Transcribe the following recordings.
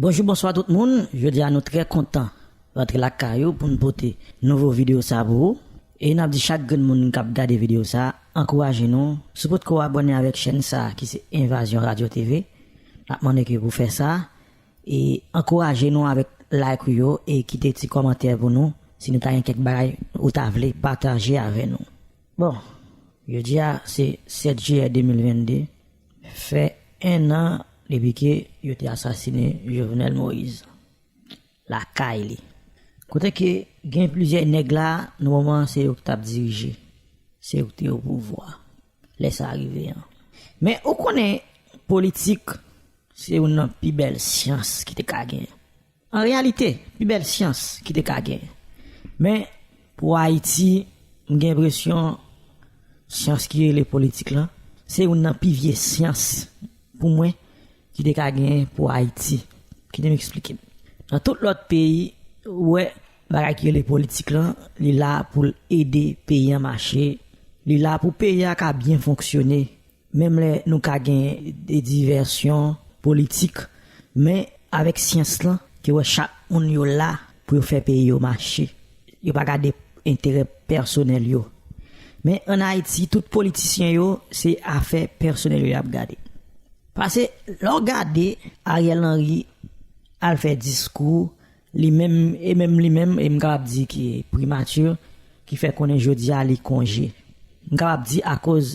Bonjou bonswa tout moun jodi a nou trè kontan rantre lakay ou poun pote nouvo video sa pou ou e nap di chak grenn moun kap gade video sa ankouraje nou si w potko abòne avèk chèn sa ki se envazyon radyo TV nap mande ke pou fè sa e ankouraje nou avèk like ou yo e kite ti kòmantè pou nou si nou ta gen kèk bagay ou ta vle pataje avè nou bon jodi a se 7 jiyè 2022. Fè 1 an depi ke yo te asasine Jovenel Moïse lakay li. Kote ke gen plizyè nèg la nan moman an se yo ki tap dirije. Se yo ki te o pouvwa lè sa rive an. Men ou konnen politik se youn nan pi bèl syans ki te ka gen. An reyalite, pi bèl syans ki te ka gen. Men, pou Ayiti, m gen enpresyon syans ki rele politik lan, se youn nan pi vye syans pou mwen ki te ka gen pou Ayiti. Kite m eksplike m. Nan tout lòt peyi, ou wè, bagay ki rele politik lan, li la pou l ede peyi an mache, li la pou peyi a ka byen fonksyone. Menm lè nou ka gen de divèsyon politik men avèk syans lan ki wè chak moun yo la pou yo fè peyi yo mache. Yo pa gade enterè pèsonèl yo. Men an Ayiti tout politisyen yo se afè pèsonèl yo y ap gade. Pase lè w gade Ariel Henry al fè diskou li menm e menm li menm e m kapab di ki primati ki fè konnen jodi a li konje. M kapab di akoz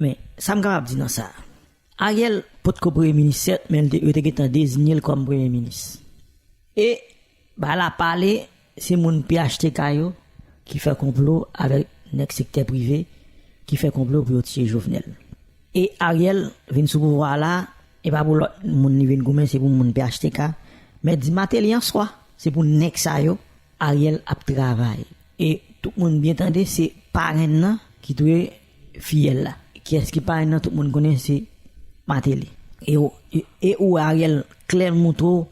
Men, sa m kapab di nan sa a. Ariel potko premye minis sèt men l te yo te gentan dezinye l kòm premye minis. E, bagay la pale, se moun phtk yo ki fè konplo avèk nèg sektè prive ki fè konplo pou yo tiye Jovenel. E Ariel vin sou pouvwa a la a, e pa pou lòt moun li vin goumen se pou moun phtk. Men di Martelly an swa, se pou nèg sa yo Ariel ap travay. E tout moun byen tande se parenn nan ki dwe Fiyèl la. Kiyès ki parèn nan tout moun konnen se Mateli. E ou wè Ariel klè l moutre w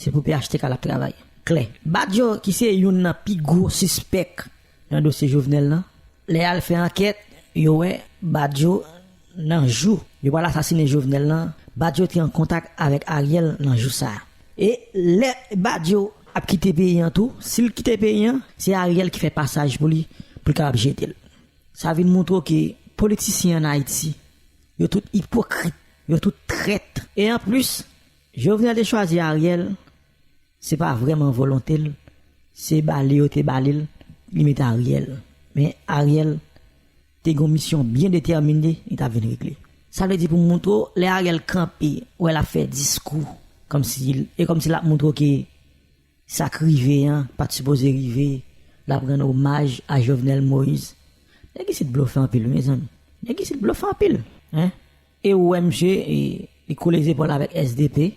se pou phtk lap travay. Klè. Badjo ki se youn nan pi gwo sispèk nan dosye Jovenel lan, lè yal fè ankèt yo wè Badjo nan jou yo pral asasine Jovenel lan Badjo te an kontak avèk Ariel nan jou sa. E lè Badjo ap kite peyi an tou, sil kite peyi an se Ariel ki fè pasaj pou li pou l kapab jete l. Sa vin moutre w ke politisyen an Ayiti, yo tout ipokrit, yo tout trèt. E anplis, Jovenel te chwazi Ariel, se pa vrèman volonte l, se bale yo te bale l, li mete Ariel. Men Ariel te gen yon misyon byen detèmine li t ap vin regle. Sa vle di pou m moutre w, lè Ariel kanpe, ou wè l ap fè diskou, kòmsi, e kòmsi l ap moutre w ke, Sak rive an pat sipoze rive lap rann omaj a jovenel moise nèg isit blofè anpil wi mezanmi nèg isit blofè anpil hein e ou wè misye li kole zepòl avèk sdp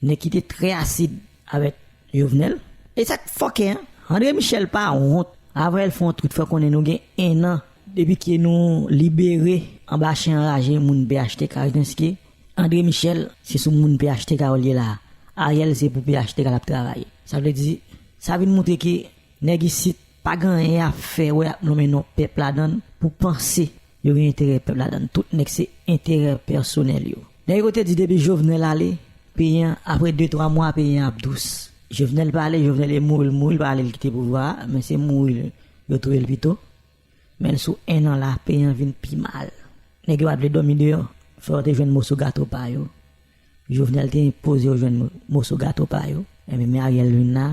nèg ki te trè asid avèk jovenel e sak fòkè an andre michel pa wont avrèl fè yon twit fè konnen nou gen 1 an depi ke nou libere anba chen anraje moun phtk je ne sais que Andre Michel se sou moun phtk ou l ye la a. Ariel se pou phtk l ap travay. Sa vle di, sa vin moutre ke nèg isit pa gen anyen y ap fè wè ak nonmen non pèp ladan l pou panse yo gen enterè pèp ladan l. Tout nèg se enterè pèsonèl yo. Nèg yo te di depi Jovenel ale, peyi an, apre de twa mwa peyi an ap dous. Jovenel pa ale, Jovenel e mouri l mouri l pa ale l kite pouvwa a, men se mouri l yo touye l pito. Menl sou 1 an la peyi an vin pi mal. Nèg yo pat vle dòmi deyò, fò yo te jwenn moso gato pa yo. Jovenel te enpoze yo jwenn moso gato pa yo, enben men Ariel vin la,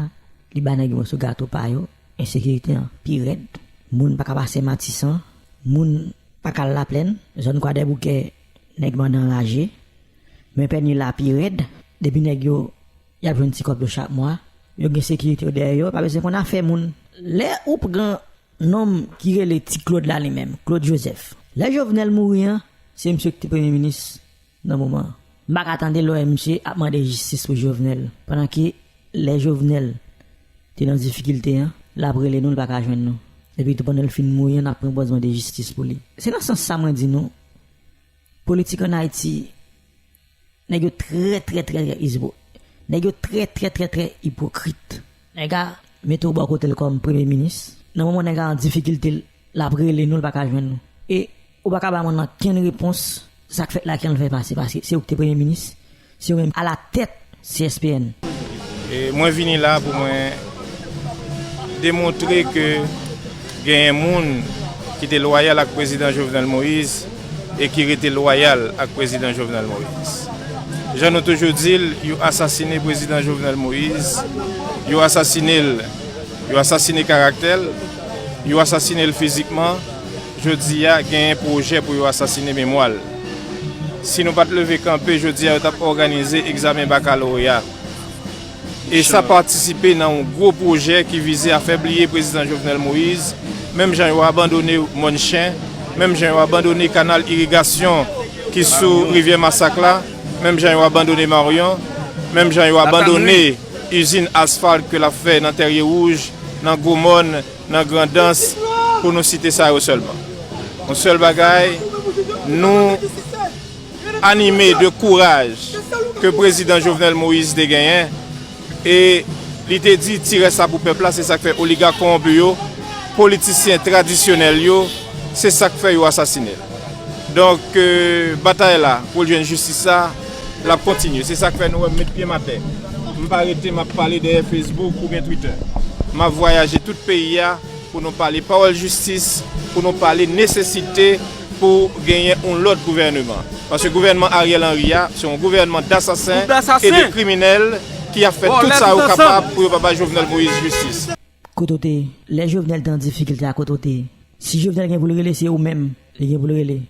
li ba nèg yo moso gato pa yo, ensekirite an pi rèd. Moun paka pase Matisan, moun paka al Laplèn, zòn Kwadèboukè nèg bandi anraje. Men pènye la pi rèd, depi nèg yo yap jwenn ti kòb yo chak mwa, yo gen sekirite yo dèyè yo, yo pa bezwen konn afè moun. Lè ou pran Nonm ki rele Ti Klod la li menm, Klod Jozèf. Lè Jovenel mouri an, se misye ki te premye minis nan moman an. M pa ka tande lòyè misye ap mande jistis pou Jovenel, pandan ke lè Jovenel te nan difikilte an, l ap rele nou l pa ka jwenn nou. Epi tou pandan l fin mouri an n ap pran pòz mande jistis pou li. Se nan sans sa mwen di nou, politik an Ayiti, Nèg yo trè trè trè trè izbo nèg yo trè trè trè trè ipokrit. Nèga mete ou bò kotel kòm premye minis nan moman nèga an difikilte lap rele nou li paka jwenn nou e ou paka ba moun lan kenn repons sak fèt la kijanl fè pase paske se ou ki te premye minis se ou menm ki ala tèt CSPN. Mwen vini la pou mwen demontre ke genyen moun ki te lwayal ak Prezidan Jovenel Moïse e ki rete lwayal ak Prezidan Jovenel Moïse. Jan nou toujou di l, yo asasine Prezidan Jovenel Moïse, yo asasine l, yo asasine karaktè l, yo asasine l fizikman, Jodi a genyen pwojè pou yo asasine memwa l. Si nou pa t leve kanpe jodi a yo t ap òganize egzamen bakaloreya. E sa patisipe nan yon gwo pwojè ki vize a fè bliye Prezidan Jovenel Moïse menm jan yo abandone Mòn Chen, menm jan yo abandone kanal irigasyon ki sou rivyè Masak la, menm jan yo abandone Maryon, menm jan yo abandone izin asfalt ke l ap fè nan Tèrye Wouj, nan Gwo Mòn. Nan Grandans, pou nou site sa yo sèlman. Yon sèl bagay, nou anime de kouraj ke Prezidan Jovenel Moïse te genyen e li te di ti rès la pou pèp la, se sa k fè oligak konwonpi yo, politisyen tradisyonèl yo, se sa k fè yo asasine l. Donk, batay la pou l jwenn jistis la, Lap kontinye se sak fè nou wè m met pye m atè m pa rete map pale dèyè Facebook oubyen Twitter map vwayaje tout peyi a pou nou pale pawòl jistis pou nou pale nesesite pou genyen yon lòt gouvèneman paske gouvènman Ariel Henry a se yon gouvènman dasasen e de kriminèl ki ap fè tout sa yo kapab pou yo pa bay Jovenel Moïse jistis. Kote w te lè jovenel te an difikilte a kote w te si jovenel gen pou l rele se ou menm li gen pou l rele.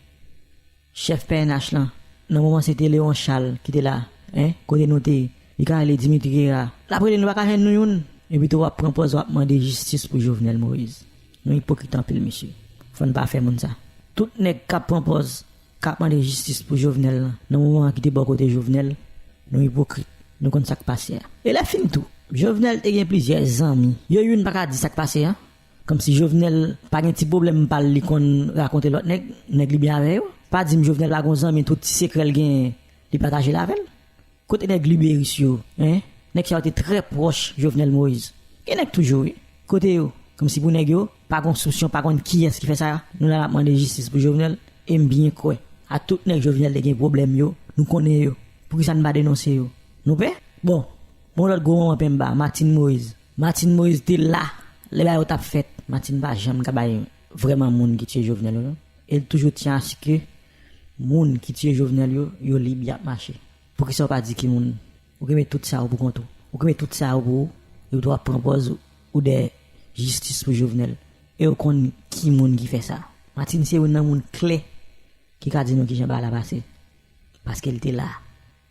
Chèf pnh lan nan moman se te Leon Charles ki te la hein kote nou te li ka rele Dimitri Gérard lap rele nou paka jwenn nou youn e pito wap pran pòz wap mande jistis pou Jovenel Moïse nou ipokrit anpil mesye fòn pa fè moun sa tout nèg kap pran pòz kap mande jistis pou Jovenel lan nan moman ki te bò kote Jovenel nou ipokrit nou konn sak pase a e lè fin tou Jovenel te gen plizyè zanmi yo youn paka di sak pase an Komsi jovenel pa gen ti problem pal li konn rakonte lot neg, neg li byen avè yo, pa dim jovenel pa gon zanmi tout ti sekrè l genyen li patajel avèl, kote neg liberis yo hein, neg sa yo te trè proch jovenel moise, gen neg toujou wi, kote yo, komsi pou neg yo pa gon sous yon pa konn kiyes ki fè sa, nou la nap mande jistis pou jovenel, em byen kwè a tout neg jovenel te gen problem yo nou konnen yo, poukisa nou pa denonse yo, nou pè, bon, gon lot gwo manman penmba, martine moise. Martine Moise te la lè bagay yo tap fèt Martine pa janm ka bay vrèman moun ki tiye Jovenel yo non el toujou tyen aske moun ki tiye Jovenel yo yo lib yap mache poukisa ou pa di ki moun ou kenbe tout sa yo pou kont ou ou kenbe tout sa yo pou ou epi tou wap pran pòz ou dè jistis pou Jovenel ew konn ki moun ki fè sa Martine se youn nan moun kle ki ka di nou kijan bagay la pase paskel te la.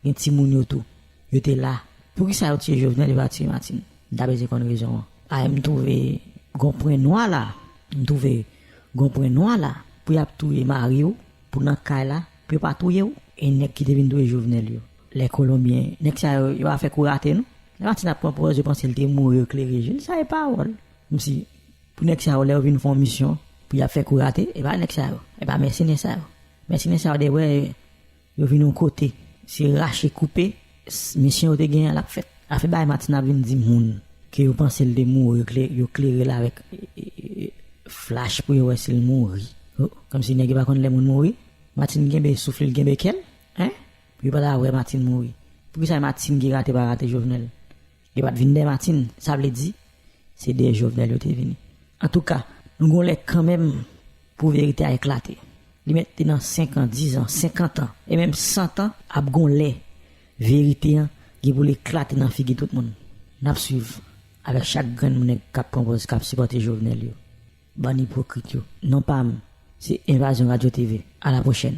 Gen timoun yo tou. Yo te la. Poukisa yo tiye Jovenel yo pa tiye Martine? M ta bezwen konn rezon an. Ay m twouve gon pwen nwa la m twouve gon pwen nwa la pou yap touye mariw pou nan kay la pou yo pa touyew e nèg ki te vin touye jovenel yo lè kolonbyen nèg sa yo yo afè kou rate non lè martine ap pran pòz yo panse li te mouri yo klere jel sa e pawòl m si pou nèg sa yo lè yo vin fon misyon pou yap fè kou rate e pa nèg sa yo e pa mèsenè sa yo mèsenè sa yo de wè Yo vin yon kote, se rache koupe, misyon yo te genyen an l ap fèt. Afè bay matina vin di moun ke yo panse l te mouri, yo klere l avèk flach pou yo wè si l mouri. O, kòmsi nèg yo pa konn lè moun mouri? Matin kenbe souf li, l kenbe kè l? Hein? Pou yo pa ta wè Matin mouri. Poukisa e Matin ki rate pa rate Jovenel? Yo pat vin dè Martine, sa vle di se dè Jovenel yo te vini. Antouka, nou gon lè kanmenm pou verite a eklate. Li mèt te nan 5 an, 10 an, 50 an, e menm 100 an, ap gon lè verite an gen pou l eklate nan figi tout moun. N ap swiv avèk chak grenn moun nèg k ap pran pòz k ap sipòte Jovenel yo. Bann ipokrit yo. Non pa m, se Envazyon Radio TV. A la pwochèn.